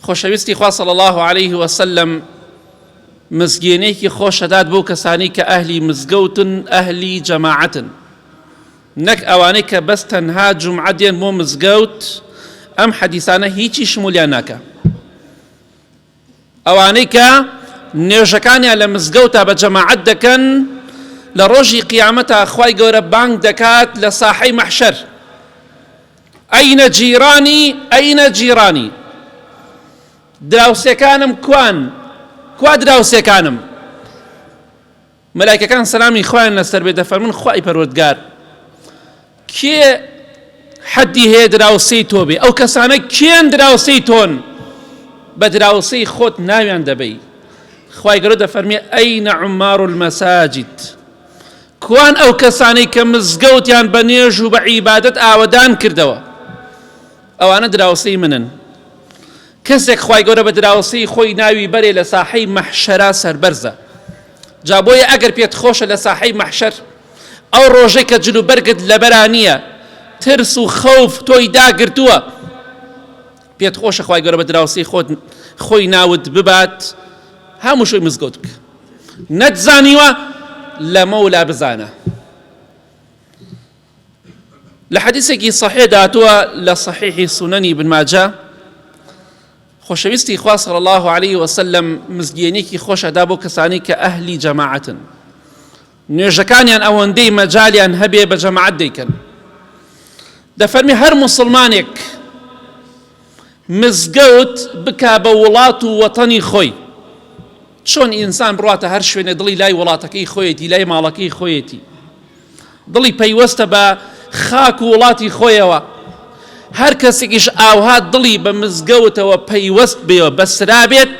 خۆشەویستی خوا صلی الله علیه و سلم مزگێنێکی خۆشەدات بۆ کەسانی کە ئەهلی مزگەوتن ئەهلی جەماعەتن نەک ئەوانەی کە بەس تەنها جمعە دێن بۆ مزگەوت ئەم حەدیسانە هیچی شمولیان ناکە ئەوانەی کە نێژەکانیان لە مزگەوتا بە جەماعەت دەکەن لە ڕۆژی قیامەتا خی گەورە بانگ دەکات لە ساحەی مەحشەر ئەینە جیرانی ئەینە جیرانی دراوسێکانم کوان کوا دراوسێکانم مەلایکەکان سەلامی خوایان لەسەر بێ دەفەرمون خوای پەروەردگار کێ حەدی هەیە دراوسێی تۆ بێ ئەو کەسانە کێن دراوسێی تۆن بە دراوسێی خۆت ناویان دەبەی خوای گەورە دەفەرمێ ئەینە عمار المەساجد کوان ئەو کەسانەی کە مزگەوتیان بە نوێژ و بە عیبادەت ئاوەدان کردەوە؟ ئەوانە دراوسێی منن. کەسێک خوای گەورە بە دراوسێی خۆی ناوی بەرێ لە ساحەی مەحشەرا سەربەرزە. جا بۆیە ئەگەر پێت خۆشە لە ساحەی مەحشەر ئەو ڕۆژەی کە جلوبەرگت لەبەرا نییە، ترس و خەوف تۆی داگرتووە، پێت خۆشە خوای گەورە بە دراوسێی خۆت خۆی ناوت ببات هەمووشوی مزگەوت بکە نەت زانیوە لە مەولا بزانە لە حەدیسێکی صحێ داتووە لە صحیحی سونەنی بنماجە خۆشەویستی خوا صلی الله عليه وسلم مزگیێنێکی خۆشەدا بۆ کەسانی کە ئەهلی جەماعەتن نوێژەکانیان ئەوەندەی مەجالیان هەبێ بە جەماعەت دەیکەن. دەفەرمی هەر موسڵمانێک مزگەوت بکا بە وڵات و وەتەنی خۆی چۆن ئینسان بڕاتە هەر شوێنێ دڵی لای وڵاتەکەی خۆیەتی لای ماڵەکەی خۆیەتی دڵی پەیوەستە بە خاک و وڵاتی خۆیەوە هەر کەسێکیش ئاوها دڵی بە مزگەوتەوە پەیوەست بێەوە بەسرابێت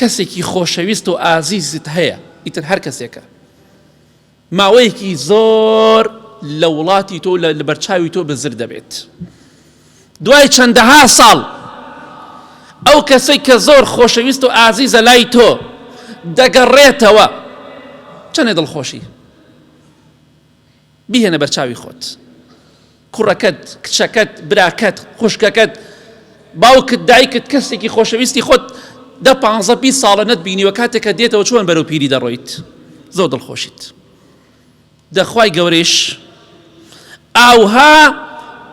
کەسێکی خۆشەویست و ئازیزت هەیە ئیتر هەر کەسێکە ماوەیەکی زۆر لە وڵاتی تۆ لە بەرچاوی تۆ بزر دەبێت دوای چەندەها ساڵ ئەو کەسێک کە زۆر خۆشەویست و ئازیزە لای تۆ دەگەڕێتەوە چەندێ دڵخۆشی بیهێنە بەرچاوی خۆت کوڕەکەت، کچەکەت، براکەت، خوشکەکەت، باوکت، دایکت، کەسێکی خۆشەویستی خۆت دە پانزە بیست ساڵە نەتبینیوە کاتێکە دێتەوە چۆن بەرەو پیری دەڕۆیت زۆر دڵخۆشیت دەخوای گەورەیش ئاوها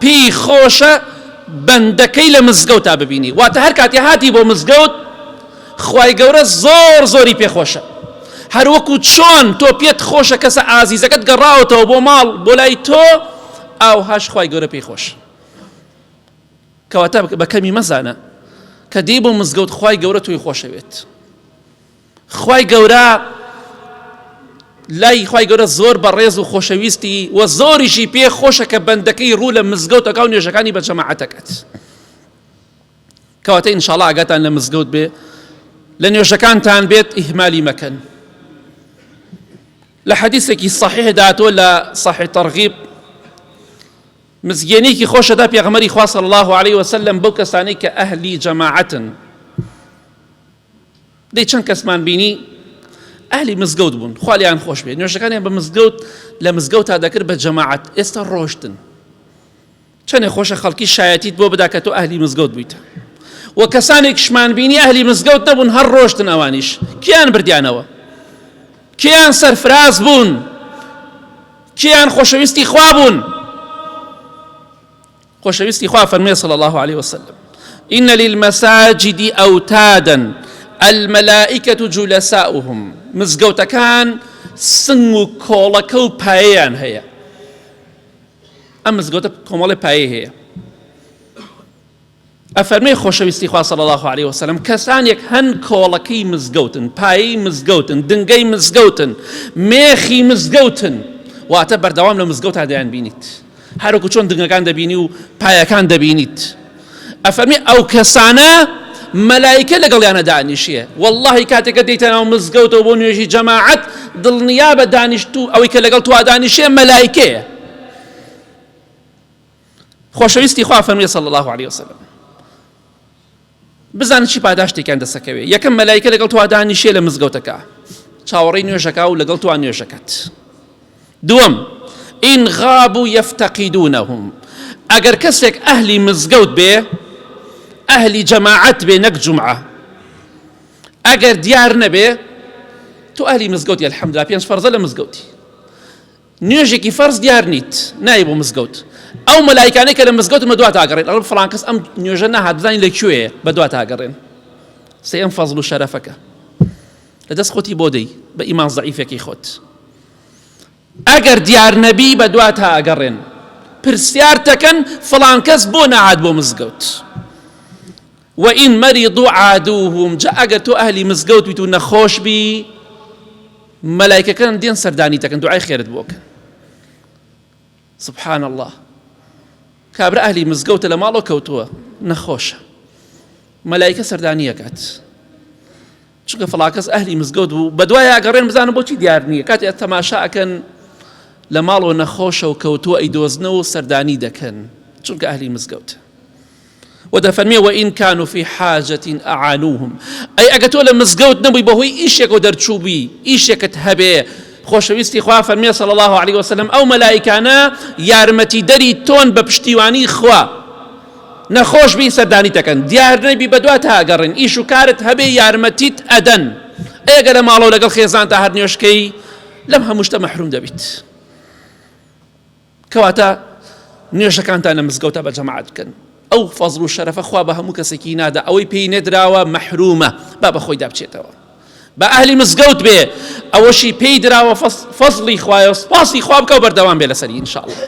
پێی خۆشە بەندەکەی لە مزگەوتا ببینی واتە هەر کاتی هاتی بۆ مزگەوت خوای گەورە زۆر زۆری پێ خۆشە هەر وەکو چۆن تۆ پێت خۆشە کەسە ئازیزەکەت گەڕاوەتەوە بۆ ماڵ بۆ لای تۆ ئاو هاش خوای گەورە پێی خۆش کەواتە بە کەمی مەزانە کە دێ بۆ مزگەوت خوای گەورە توی خۆشەوێت خوای گەورە لای خی گەورە زۆر بە ڕێز و خۆشەویستی و زۆریشی پێ خۆشە کە بەندەکەی ڕوو لە مزگەوتەکە و نوێژەکانی بە جەماعەتەکەت. کەواتە ئینشاڵا ئاگاتان لە مزگەوت بێ لە نوێژەکانتان بێت ئیهمالی مەکەن لە حەدیسێکی صحیح داتوە لە صحی تەرغیب مزگێنێکی خۆشەدا پێغمەری خواص الله عليه وسلم بەو کەسانی کە ئەهلی جەماعەتن دەی چەند کەسمان بینی ئەهلی مزگەوت بوون خالیان خۆش بێ نوێژەکانیان بە مزگەوت لە مزگەوت تا دەکرد بە جەماعەت ئێستا ڕۆشتن چەنێ خۆشە خەڵکی شایەتیت بۆ بدا کە تۆ ئەهلی مزگەوت بوویت و کەسانێکشمان بینی ئەهلی مزگەوت نەبوون هەر ڕۆشتن ئەوانیش کیان بردیانەوە کیان سەرفراز بوون کیان خۆشەویستی خوا بوون خۆشەویستی خوا فەرمێ صلی الله عليه وسلم إن للمساجد أوتادا الملائكة جلساؤهم مزگەوتەکان سنگ و کۆڵەکە و پایەیان هەیە ئەم مزگەوتە کۆمەڵی پایەی هەیە ئەفەرمەی خۆشەویستی خوا صلی الله عليه وسلم کەسانێک هەن کۆڵەکەی مزگەوتن پایەی مزگەوتن دنگەی مزگەوتن مێخی مزگەوتن واتە بەردەوام لە مزگەوتا دەیان بینیت هەروکو چۆن دنگەکان دەبینی و پایەکان دەبینیت ئەفەرمێ ئەو کەسانە مەلایکە لەگەڵیانە دانیشێ واللهی کاتێکە دەیتە ناو مزگەوتەوە بۆ نوێژی جەماعەت دڵنیا بە دانیشت و ئەوەی کە لەگەڵ توا دانیشێ مەلایکەیە خۆشەویستی خوا فەرمی صلی الله عليه وسلم بزان چی پاداشتێکیان دەسەکەوێ یەکەم مەلایکە لەگەڵ توا دانیشێ لە مزگەوتەکە چاوەڕی نوێژەکە و لەگەڵ توا نوێژەکەت دووەم، ان غابو یفتقدونهم، ئەگەر کەسێک ئەهلی مزگەوت بێ، ئەهلی جەماعەت بێ نەک جومعە، ئەگەر دیار نەبێ، تۆ ئەهلی مزگەوتی الحمدللە پێنج فەرزە لە مزگەوتی، نوێژێکی فەرز دیار نیت نای بۆ مزگەوت، ئەو مەلایکانەی کە لە مزگەوتن بە دوات ئاگەڕێن ئەڵێن فڵان کەس ئەم نوێژە نەهات بزانین لە کوێیە بە دوات ئاگەڕێن، سێیەم فەزڵ و شەرەفەکە. لە دەست خۆتی بۆ دەی بە ئیمان زەعیفەکەی خۆت ئەگەر دیار نەبی بە دوات تا ئەگەڕێن پرسیار تەکەن فڵان کەس بۆ نەعاد بۆ مزگەوت وئین مەریض و عادوهم جا ئەگەر تۆ ئەهلی مزگەوت بیت و نەخۆش بی مەلایکەکان دێن سەردانی تەکەن دوعای خێرت بۆکەن سبحان الله کابرا ئەهلی مزگەوتە لە ماڵەوە کەوتووە نەخۆشە مەلایکە سەردانیەکات چونکە فڵاکەس ئەهلی مزگەوت بوو بەدوای ئەگەڕێن بزانم بۆچی دیار نییە کاتی تەماشا ئەکەن لە ماڵەوە نەخۆشە و کەوتووە ئەی دۆزنە و سەردانی دەکەن چونکە ئەهلی مزگەوت و دەفەرمێ وە ئین کان و فی حاجەتین ئەعانوهم ئەی ئەگە تۆ لە مزگەوت نەبووی بەهۆی ئیشێک و دەرچووبی ئیشێکت هەبێ خۆشەویستی خوا فەرمیێ سەڵ الله عليه وسلم ئەو مەلایکانە یارمەتی دەری تۆن بە پشتیوانی خوا نەخۆش بین سەردانیت دەکەن دیار نەبی بەدوات هاگەڕێن ئیش و کارت هەبێ یارمەتیت ئەدەن ئێگە لە ماڵەوە لەگەڵ خێزان تا هەر نوێشکەی لەم هەمووشتە مەحروم دەبیت کەواتە نوێژەکانتان لە مزگەوتە بە جەماعات بکەن ئەو فەزل و شەرەفە خوا بە هەموو کەسێکی نادا ئەوەی پێی نەدراوە مەحرومە با بە خۆی دابچێتەوە بە ئەهلی مزگەوت بێ ئەوەشی پێی دراوە فەزلی خوایە سپاسی خواب بکە و بەردەوام بێ لەسەری انشاء الله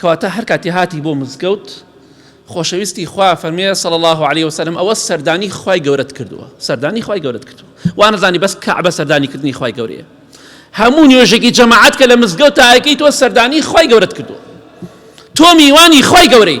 کەواتە هەر کاتی هاتی بۆ مزگەوت خۆشەویستی خوا فەرمێ صلی الله علیه وسلم ئەوە سەردانی خوای گەورەت کردووە سەردانی خوای گەورەت کردووە وانەزانی بەس کەعبە سەردانی کردنی خوای گەورەیە هەموو نوێژێکی جەماعەت کە لە مزگەوت تاەکەی تۆ سەردانی خوای گەورەت کردووە تۆ میوانی خوای گەورەی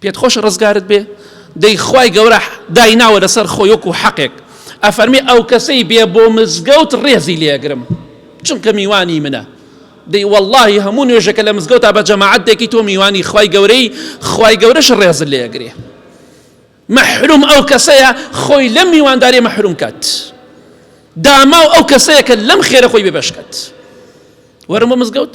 پێت خۆشە ڕزگارت بێ دەی خوای گەورە دایناوە لەسەر خۆی وەکو حەقێک ئەفەرمی ئەو کەسەی بێ بۆ مزگەوت ڕێزی لێگرم چونکە میوانی منە دەی واللهی هەموو نوێژەکە لە مزگەوتا بە جەماعەت دەکی تۆ میوانی خوای گەورەی خوای گەورەش ڕێز لێگرێ مەحروم ئەو کەسەیە خۆی لەم میواندارێ مەحروم کات داماو ئەو کەسەیە کە لەم خێرە خۆی بێبەشکات وەرم بۆ مزگەوت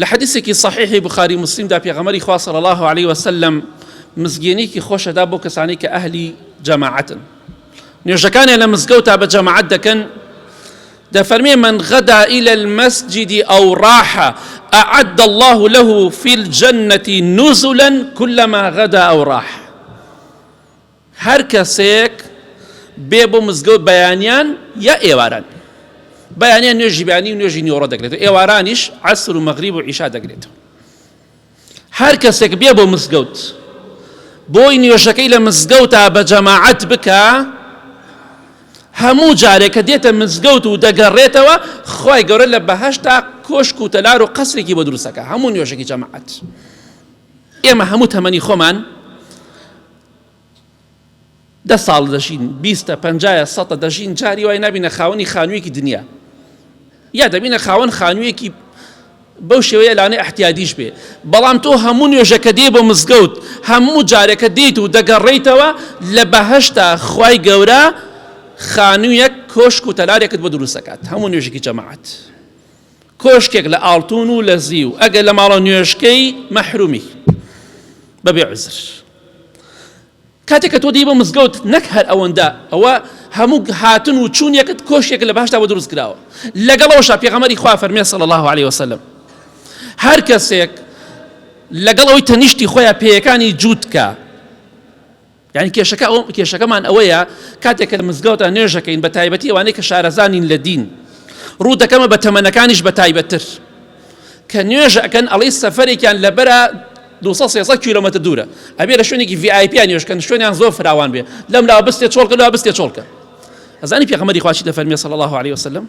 لە حەدیسێکی سەحیحی بوخاری و موسلیمدا پێغەمبەری خوا صلی اللە علیە وسلم مزگێنێکی خۆشەدا بۆ کەسانی کە ئەهلی جەماعەتن نوێژەکانیان لە مزگەوتا بە جەماعەت دەکەن دەفەرمێ من غدا إلى المسجد أو راح أعد الله له في الجنة نزلا كلما غدا أو راح هەر کەسێک بێ بۆ مزگەوت بەیانیان یا ئێواران بەیانیان نوێژی بەیانی و نوێژی نیۆڕە دەگرێتەوە ئێوارانیش عسر و مەغریب و عیشا دەگرێتەوە هەر کەسێک بێ بۆ مزگەوت بۆی نوێژەکەی لە مزگەوتا بە جەماعەت بکە هەموو جارێک کە دێتە مزگەوت و دەگەڕێتەوە خی گەورە لە بەهشتا کۆشک و تەلار و قەسرێکی بۆ دروستەکە هەموو نوێژێکی جەماعەت ئێمە هەموو تەمەنی خۆمان دە ساڵ دەژین بیستە پەنجایە سەتە دەژین جاری وای نبینە خاوەنی خانوویەکی دنیا یا دەبینە خاوەن خانوویەکی بەو شێوەیە لانێ احتیادیش بێ بەڵام تۆ هەموو نوێژەکە دێ بۆ مزگەوت هەموو جارەکە دێیت و دەگەڕیتەوە لە بەهشتا خی گەورە خانوویەک کۆشک و تەلارێکت بۆ دروستەکات هەموو نوێژێکی جەماعات کۆشکێک لە ئاڵتون و لە زیو ئەگەر لە ماڵە نوێژکەی مەحرومی بەبێ عزر کاتێک کە تۆ دی بۆ مزگەوت نەک هەر ئەوەندە ئەوە هەموو هاتن و چوونیەکەت کۆشتێک لە باشدا بە دروست کراوە لەگەڵەوەشا پێغەمەری خوا فەرمێ سەڵ الله عليه وسلم هەر کەسێک لەگەڵ ئەوی تەنیشتی خۆیان پێیەکانی جووتکە یانی کێشەکە ئەو کێشەکەمان ئەوەیە کاتێک کە لە مزگەوتە نوێژەکەین بە تایبەتی ئەوانەی کە شارەزانین لە دین ڕوو دەکەمە بە تەمەنەکانیش بە تایبەتتر کە نوێژە ئەکەن ئەڵی سەفرێکیان لەبەرە 200 کیلومتر دوورە ئەبێ لە شوێنێکی VIP نوێژکەن شوێنیان زۆر فراوان بێ لەم لا بستێ چۆڵکە لا بستێ چۆڵکە ئەزانی پێغەمەری خواشی دەفەرمێ صلی الله عليه وسلم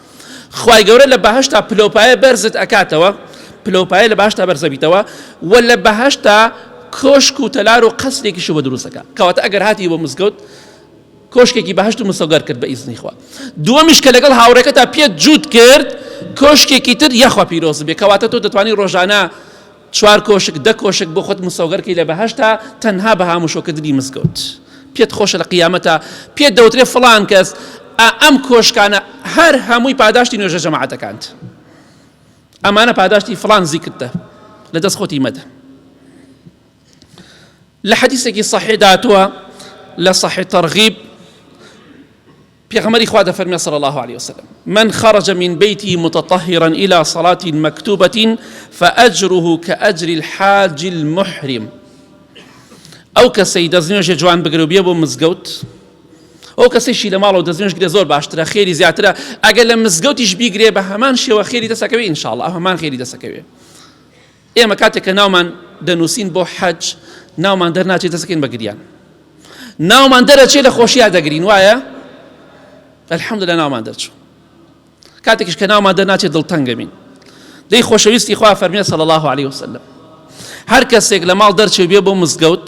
خوای گەورە لە بەهەشتا پلەوپایە بەرزت ئەکاتەوە پلەوپایە لە باشتا بەرزەبیتەوە و لە بەهشتا کۆشک و تەلار و قەسرێکیش بە دروستەکە کەواتە ئەگەر هاتی بۆ مزگەوت کۆشکێکی بەهشت و مسەگەر کرد بە ئیزنی خوا دووەمیش کە لەگەڵ هاوڕێکە تا پێت جووت کرد کۆشکێکی تر یاخوا پیرۆز بێ کەواتە تۆ دەتوانانی ڕۆژانە چوار کۆشک دە کۆشک بۆ خۆت مسۆگەر کەی لە بەهەشتا تەنها بە هاموشۆ کردنی مزگەوت پێت خۆشە لە قیامەتا پێت دەوترێ فڵان کەس ئەم کۆشکانە هەر هەمووی پاداشتی نوێژە جەماعەتەکانت ئەمانە پاداشتی فڵان زیکردە لە دەست خۆتی مەدە لە حەدیسێکی صحیح داتووە لە صحیح ترغیب پێغەمبەری خوا دەفەرمێ صلی الله علیه وسلم من خرج من بيته متطهرا الى صلاة مكتوبة فأجره كأجر الحاج المحرم ئەو کەسەی دەستنوێژە جوان بگرە و بێ بۆ مزگەوت ئەو کەسێکی لە ماڵەوە دەستنوێژ گرێ زۆر باشترە خێری زیاترە ئەگەر لە مزگەوتیش بیگرێ بە هەمان شێوە خێری دەسەکەوێ ئینشاءڵ ئەو هەمان خێری دەسەکەوێ ئێمە کاتێک کە ناومان دەنووسین بۆ حەج ناومان دەرناچێت دەسەکەین بە گریان ناومان دەرەچێت لە خۆشییا دەگرین وایە الحمد لە ناومان دەرچوو کاتێکش کە ناومان دەرناچێت دڵتەنگەمین دەی خۆشەویستی خوا فەرمیێت سەڵ الله عليه وسلم هەر کەسێک لە ماڵ دەرچێ بێ بۆ مزگەوت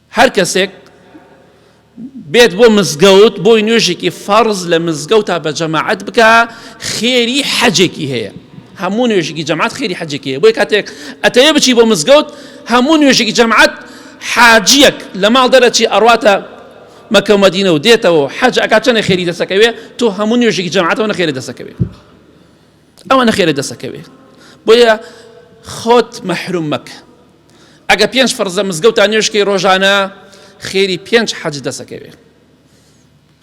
هەر کەسێک بێت بۆ مزگەوت بۆی نوێژێکی فەرز لە مزگەوتا بە جەماعەت بکە خێری حەجێکی هەیە هەموو نوێژێکی جەماعەت خێری حەجێکی هەیە بۆی کاتێک ئەتەیە بچی بۆ مزگەوت هەموو نوێژێکی جەماعەت حاجیەک لە ماڵ دەرەچی ئەڕاتە مەکە مەدینە و دێتەوە حەج ئەکات چەنە خێری دەسەکەوێ تۆ هەموو نوێژێکی جەماعەتەوە نەخێری دەسەکەوێ ئەوە نەخێرە دەسەکەوێ بۆیە خۆت مەحروم مەکە ئەگە پێنج فەرزە مزگەوتان نوێشکەی ڕۆژانە خێری پێنج حەج دەسەکەوێ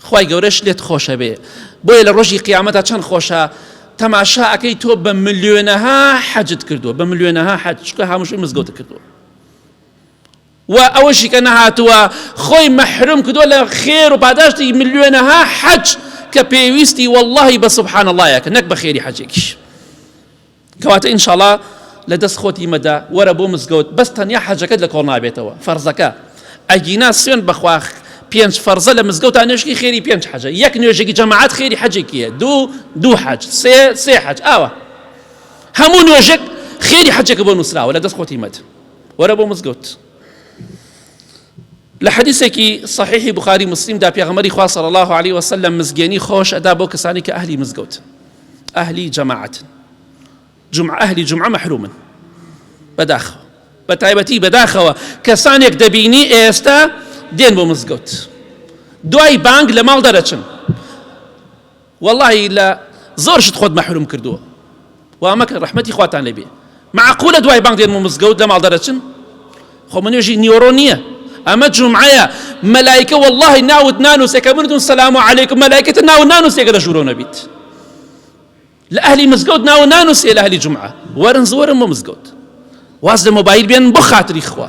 خی گەورەش لێت خۆشە بێ بۆیە لە ڕۆژی قیامەتە چەند خۆشە تەماشا ئەەکەی تۆ بە ملیۆنەها حەجت کردووە بە ملیۆنەها حەج چکە هەمووشی مزگەوت کردووە و ئەوەشی کە نەهاتووە خۆی مەحروم کردووە لە خێر و پاداشتی ملیۆنەها حەج کە پێویستی واللهی بە سبحان اللهە کە نەک بە خێری حەجێکیش کەواتە ئینشاڵا لە دەست خۆتی مەدە وەرە بۆ مزگەوت بەس تەنیا حەجەکەت لە کۆڵ نابێتەوە فەرزەکە ئەگینا سوێن بەخواخ پێنج فەرزە لە مزگەوتان نوێشکی خێری پێنج حەجە یەک نوێژێکی جەماعات خێری حەجێکیە دوو دوو حەج سێ سێ حەج ئاوە هەموو نوێژێک خێری حەجێکە بۆ نووسراوە لە دەست خۆتی مەد وەرە بۆ مزگەوت لە حەدیسێکی صحیحی بخاری مسلیم دا پێغەمەری خوا صلی الله علیه وسلم مزگێنی خۆش ئەدا بۆ کەسانی کە ئەهلی مزگەوت ئەهلی جەماعەت جمع ئەهلی جمعە محرومن بەداخەوە بە تایبەتی بەداخەوە کەسانێک دەبینی ئێستا دێن بۆ مزگەوت دوای بانگ لە ماڵ دەرەچن وەڵاهی لە زۆر شت خۆت مەحروم کردووە وا مەکەن ڕەحمەتی خواتان لێ بێ معقولە دوای بانگ دێنم و مزگەوت لە ماڵ دەرەچن خۆ من نوێژی نیۆڕۆ نییە ئەمە جومعەیە مەلایکە وەڵاهی ناوت نانووسێ کە منتون سەلام و عەلەیکم مەلایکەتە ناو نانووسێکە لە ژوورۆ نەبیت لە ئەهلی مزگەوت ناو نانووسێ لە ئەهلی جومعە وەرن زۆرم بۆ مزگەوت واز لە مۆبایل بێن بۆ خاتری خوا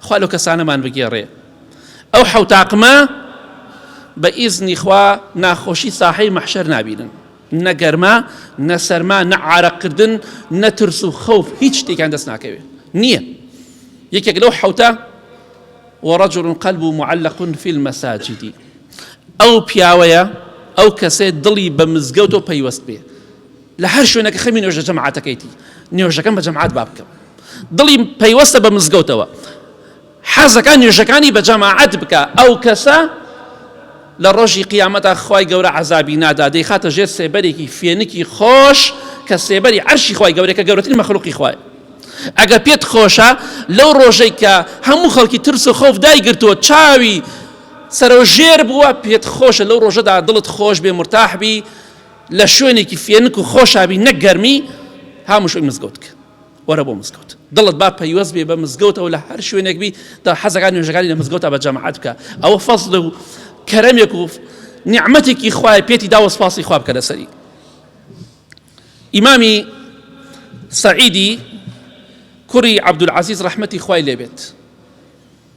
خوا لەو کەسانەمان بگێڕێ. ئەو حەوت تاقمە بە ئیزنی خوا ناخۆشی ساحەی مەحشەر نابینن، نە گەرما، نە سەرما، نە عارەق کردن، نە ترس و خەوف هیچ شتێکیان دەست ناکەوێ. نییە. یەکێک لەو حەوتە، ورجل قلبه معلق فی المساجد، ئەو پیاوەیە، ئەو کەسەیە دڵی بە مزگەوتەوە پەیوەست بێ. لە هەر شوێنەکە خەمی نوێژە جەماعەتەکەیتی نوێژەکەم بە جەماعەت با بکەم دڵی پەیوەستە بە مزگەوتەوە حەزەکان نوێژەکانی بە جەماعەت بکە ئەو کەسە لە ڕۆژی قیامەتا خی گەورە عذابی نادا دەیخاتە ژێر سێبەرێکی فێنکی خۆش کە سێبەری عەرشی خی گەورەکە گەورەترین مەخلوقی خوای ئەگە پێت خۆشە لەو ڕۆژەی کە هەموو خەڵکی ترس و خۆف دایگرتووە چاوی سەرۆژێر بووە پێت خۆشە لەو ڕۆژەدا دڵت خۆش بێ مرتاحبی لە شوێنێکی فێنک و خۆشا بی نەک گەرمی هاموشۆی مزگەوت کە وەرە بۆ مزگەوت دڵت با پەیوەست بێ بە مزگەوتەوە لە هەر شوێنێک بی دا حەزەکان نوێژەکانی لە مزگەوتا بە جەماعەت بکە ئەوە فەزل و کەرەمێک و نیعمەتێکی خوای پێتی دا و سپاسی خوا بکە لەسەری ئیمامی سعیدی کوڕی عەبدولعەزیز ڕەحمەتی خوای لێبێت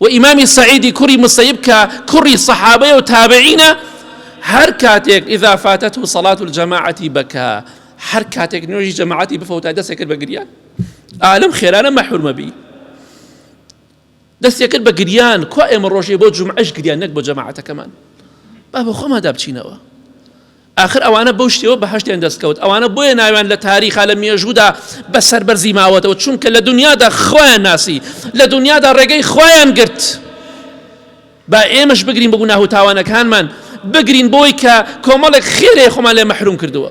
و ئیمامی سعیدی کوڕی مسەیب کە کوڕی سەحابەیە و تابعینە هەر کاتێک ئیدا فاتەت و سەڵات و جەماعەتی بەکە هەر کاتێک نوێژی جەماعەتی بفەوتای دەستێک کرد بە گریان ئالم خێرانە مەحورمەبی دەستێک کرد بە گریان کو ئێمە ڕۆژێ بۆ جمعش گریان نەک بۆ جەماعەتەکەمان با بە خۆمادا بچینەوە ئاخر ئەوانە بەو شتیەوە بەهەشتیان دەستکەوت ئەوانە بۆیە ناویان لە تاریخا لە مێژوودا بە سەربەرزی ماوەتەوە چونکە لە دنیادا خوایان ناسی لە دنیادا ڕێگەی خوایان گرت با ئێمەش بگرین بە گوناه و تاوانەکانمان بگرین بۆی کە کۆمەڵێک خێرێ خۆمان لێ مەحروم کردووە